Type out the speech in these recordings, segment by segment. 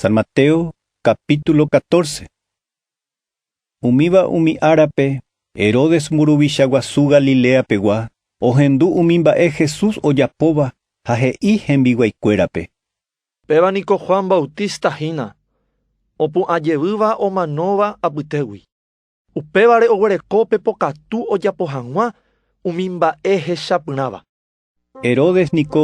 San Mateo capítulo 14. Umíva umi árape, Herodes mburuvicha guasu Galilea pegua, ohendu umi mba'e Jesús ojapóva ha he'i hembiguái kuérape. Péva niko Juan Bautista hína, opu'ã jevýva omanóva apytégui. Upévare oguereko pe pokatu ojapo hag̃ua umi mba'e hechapyrãva. Herodes niko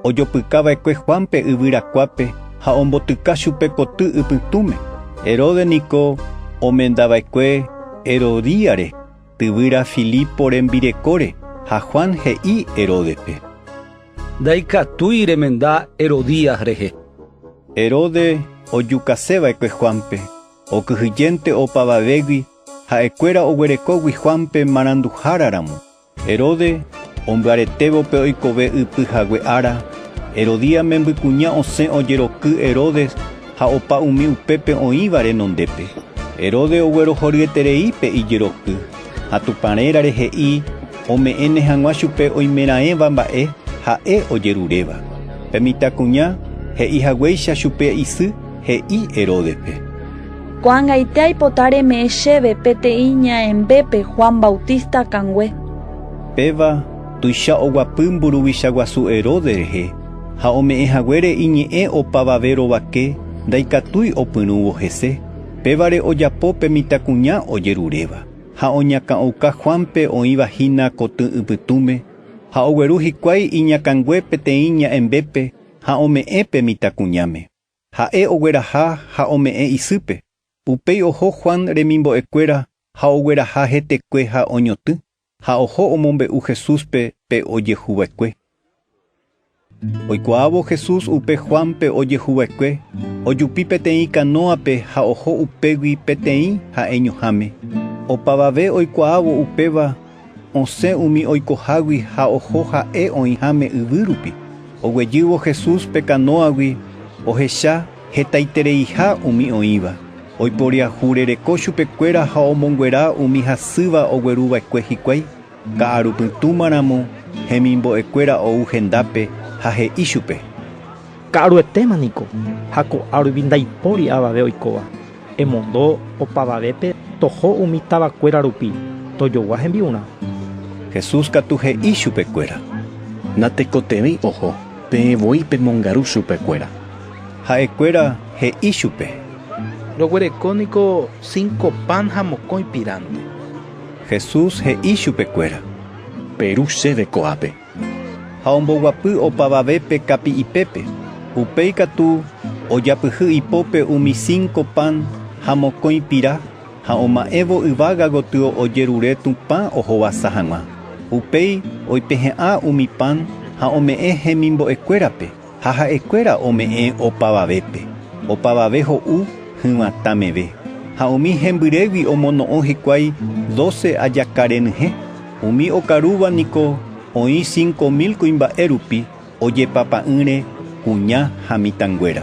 ojopyka va'ekue Juánpe yvyrakuápe ha ombotyka chupe koty ypytũme. Herodes niko omenda va'ekue Herodíare tyvyra Filipo rembirekóre, ha Juan he'i Heródepe. Ndaikatúi remenda Herodías rehe. Herodes ojukase va'ekue Juánpe, okyhyjénte opavavégui ha'ekuéra oguerekógui Juánpe maranduhára ramo. Herode ombyaretévo pe oikove ypy hague ára, Herodía membykuña osẽ ojeroky Herodes ha opa umi upépe oĩva renondépe. Herode oguerohoryeterei pe ijeroky, ha Tupã rérare he'i ome'ẽne hag̃ua chupe oimeraẽva mba'e ha'e ojeruréva. Pe mitãkuña he'i haguéicha chupe isy, he'i Heródepe. Ko'ag̃aite aipota reme'ẽ chéve peteĩ ñaembépe Juan Bautista akãngue. Péva tuicha oguapy mburuvicha guasu Herodes rehe, ha ome'ẽ haguére iñe'ẽ opavave rovake ndaikatúi opyrũvo hese, pévare ojapo pe mitãkuña ojeruréva, ha oñakã'ouka Juánpe oĩva hína kotỹ ypytũme, ha ogueru hikuái iñakãngue peteĩ ñaembépe ha ome'ẽ pe mitãkuñáme. Ha'e ogueraha ha ome'ẽ isýpe. Upéi oho Juan remimbo'ekuéra ha ogueraha hetekue ha oñotỹ, ha oho omombe'u Jesúspe pe ojehuva'ekue. Oikuaávo Jesús upe Juánpe ojehuva'ekue, ojupi peteĩ kanóape ha oho upégui peteĩ ha'eñoháme. Opavave oikuaávo upéva, Osẽ umi oikohágui ha oho ha'e oĩháme yvy rupi. Oguejývo Jesús pe kanóagui, ohecha hetaitereiha umi oĩva. Oiporiahu rereko chupekuéra ha omonguera umi hasýva ogueru va'ekue hikuái. Ka'aru pytũma ramo, hemimbo'ekuéra ou hendápe ha he'i chupe. Ka'aruetéma niko, ha ko'ã rupi ndaipóri avave oikóva. Emondo opavavépe toho umi tavakuéra rupi, tojogua hembi'urã. Jesús katu he'i chupekuéra: —Natekotevẽi oho, peẽ voi pemongaru chupekuéra. Ha'ekuéra he'i chupe: —Roguereko niko cinco pan ha mokõi piránte. Jesús he'i chupekuéra: —Peru chéve ko'ápe. Ha omboguapy opavave pe kapi'ipépe. Upéi katu ojapyhy ipópe umi cinco pan ha mokõi pira, ha oma'ẽvo yvága gotyo ojerure Tupã ohovasa hag̃ua. Upéi oipehe'ã umi pan ha ome'ẽ hemimbo'ekuérape. Ha ha'ekuéra ome'ẽ opavavépe, opavave ho'u hyvatã meve. Ha umi hembyrégui omono'õ hikuái doce ajaka renyhẽ. Umi okarúva niko oĩ cinco mil kuimba'e rupi ojepapa'ỹre kuña ha mitãnguéra.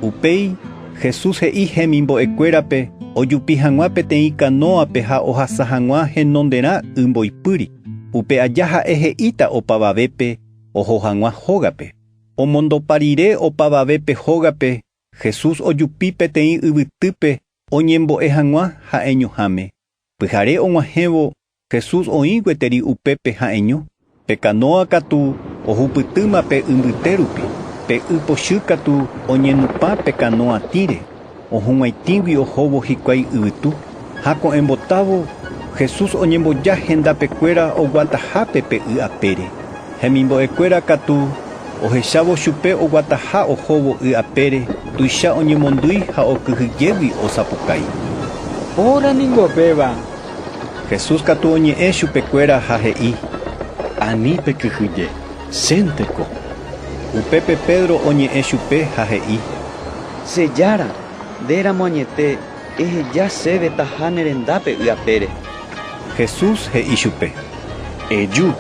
Upéi Jesús he'i hemimbo'ekuérape ojupi hag̃ua peteĩ kanóape ha ohasa hag̃ua henonderã y mboypýri. Upe aja ha'e he'íta opavavépe oho hag̃ua hógape. Omondopa rire opavave pe hógape, Jesús ojupi peteĩ yvytýpe oñembo'e hag̃ua ha'eñoháme. Pyhare og̃uahẽvo Jesús oĩ gueteri upépe ha'eño, pe kanóa katu ohupytýma pe yvyte rupi, pe y pochy katu oñenupã pe kanóa tĩre. Ohug̃uaitĩgui ohóvo hikuái yvytu, ha ko'ẽmbotávo, Jesús oñemboja hendapekuéra oguatahápe pe y apére. Hemimbo'ekuéra katu ohechávo chupe oguataha ohóvo y apére, tuicha oñemondýi ha okyhyjégui osapukái. Óra ningo péva! Jesús katu oñe'ẽ chupekuéra ha he'i. Ani pekyhyje. Chénte ko. Upépe Pedro oñe'ẽ chupe ha he'i. Che Jára, nde ramo añete, eheja chéve taha ne rendápe y apére. Jesús he'i chupe. Eju.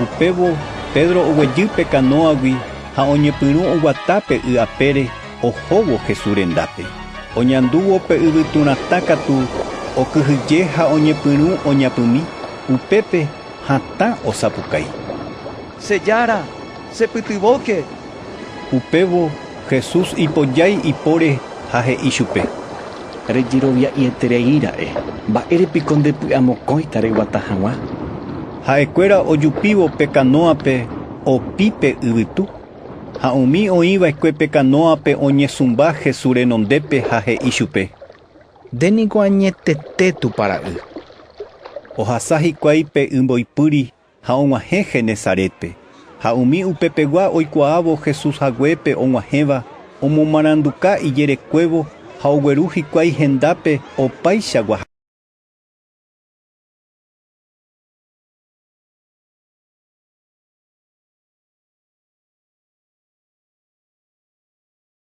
Upévo Pedro oguejy pe kanóagui ha oñepyrũ oguata pe y apére ohóvo Jesús rendápe. Oñandúvo pe yvyturãta katu, okyhyje ha oñepyrũ oñapymi, upépe Hatã osapukái. Che Jára, chepytyvõke! Upévo Jesús ipojái ipóre ha he'i chupe. Rejerovia'ieterei ra'e, mba'ére piko ndepy'amokõita reguata hag̃ua. Ha'ekuéra ojupívo pe kanóape opi pe yvytu, ha umi oĩva'ekue pe kanóape oñesũmba Jesús renondépe ha he'i chupe. Nde niko añetete Tupã Ra'y. Ohasa hikuái pe y mboypýri ha og̃uahẽ Genesarétpe. Ha umi upepegua oikuaávo Jesús haguépe og̃uahẽva, omomaranduka ijerekuévo ha ogueru hikuái hendápe opaicha guahã.